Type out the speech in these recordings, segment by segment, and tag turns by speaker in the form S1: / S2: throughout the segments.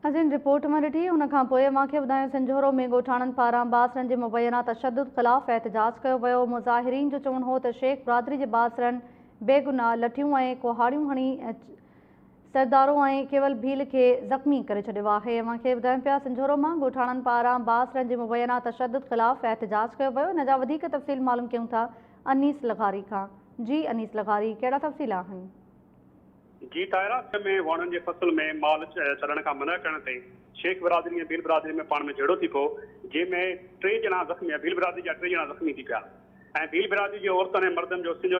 S1: اسين رپورٽ مان ڏٺي ان کان پوء اوهان کي ٻڌايون سنجهورو ۾ ڳوٺاڻن پاران باسرن جي مبينا تشدد خلاف احتجاج ڪيو ويو مظاهرين جو چوڻ هو ته شيخ برادري جي باسرن بيگناهه لٺيون ۽ ڪهاڙيون هڻي سردارو ۽ ڪيول ڀيل کي زخمي ڪري ڇڏيو آهي اوهان کي ٻڌايون پيا سنجهورو مان ڳوٺاڻن پاران باسرن جي مبينا تشدد خلاف احتجاج ڪيو ويو ان جا وڌيڪ تفصيل معلوم ڪيون ٿا انيس لغاري کان جي انيس لغاري ڪهڙا تفصيل آهن. جي
S2: تائرا سئه ۾ واڻن جي فصل ۾ مال ڇڏڻ کان منع ڪرڻ تي شيخ برادري ۽ ڀيل برادري ۾ پاڻ ۾ جهيڙو ٿي پيو جنهن ۾ ٽي ڄڻا زخمي ڀيل برادري جا ٽي ڄڻا زخمي ٿي پيا ۽ ڀيل برادري جي عورتن ۽ مردن جو سنڌ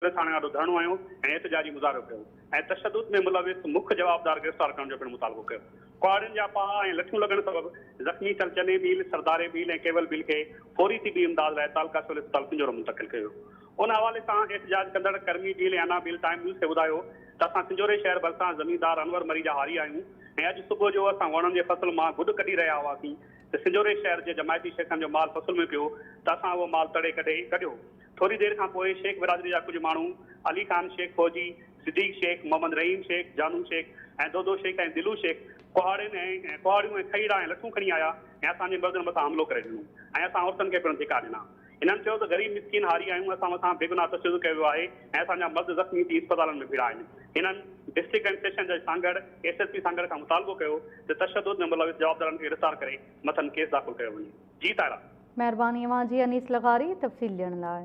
S2: پوليس ٿاڻي آڏو ڌرڻو هنيو ۽ احتجاجي مظاهرو ڪيو ۽ تشدد ۾ ملوث مک جوابدار گرفتار ڪرڻ جو پڻ مطالبو ڪيو ڪهاڙين جا پاها ۽ لٺيون لڳڻ سبب زخمي ٿيل چني ڀيل، سرداري ڀيل ۽ ڪيول ڀيل کي فوري طبي امداد لاء تعلقه سول اسپتال پنجورو منتقل ڪيو ويو. ان حوالي سان احتجاج ڪندڙ ڪرمي ڊيل ۽ انا بيل ٽائيم نيوز کي ٻڌايو ته اسان سنجهوري شهر ڀرسان زميندار انور مري جا هاري آهيون ۽ اڄ صبح جو اسان وڻن جي فصل مان گڏ ڪڍي رهيا هئاسين ته سنجهوري شهر جي جماعتي شيخن جو مال فصل ۾ پيو ته اسان اهو مال تڙي ڪڍي ڪڍيو ٿوري دير کان پوء شيخ برادري جا ڪجهه ماڻهو علي خان شيخ فوجي، صديق شيخ، محمد رحيم شيخ، جانو شيخ ۽ دودو شيخ ۽ دلو شيخ ڪهاڙين ۽ ڪهاڙيون ۽ کهيڙا ۽ لٺون کڻي آيا ۽ اسان جي مردن مٿان حملو ڪري ڏنو ۽ اسان عورتن کي پڻ ڌڪا ڏنا. هنن چيو ته غريب مسڪين هاري آهيون، اسان مٿان بيگناهه تشدد ڪيو ويو آهي ۽ اسان جا مرد زخمي ٿي اسپتالن ۾ ڀيڙا آهن. هنن ڊسٽرڪٽ اينڊ سيشن جج Sanghar, S S P Sanghar کان مطالبو ڪيو ته تشدد ۾ ملوث جوابدارن کي گرفتار ڪري مٿن ڪيس داخل
S1: ڪيو
S2: وڃي. جي طاهرا.
S1: مهرباني اوهان جي
S2: انيس
S1: لغاري تفصيل
S2: ڏيڻ
S1: لاء.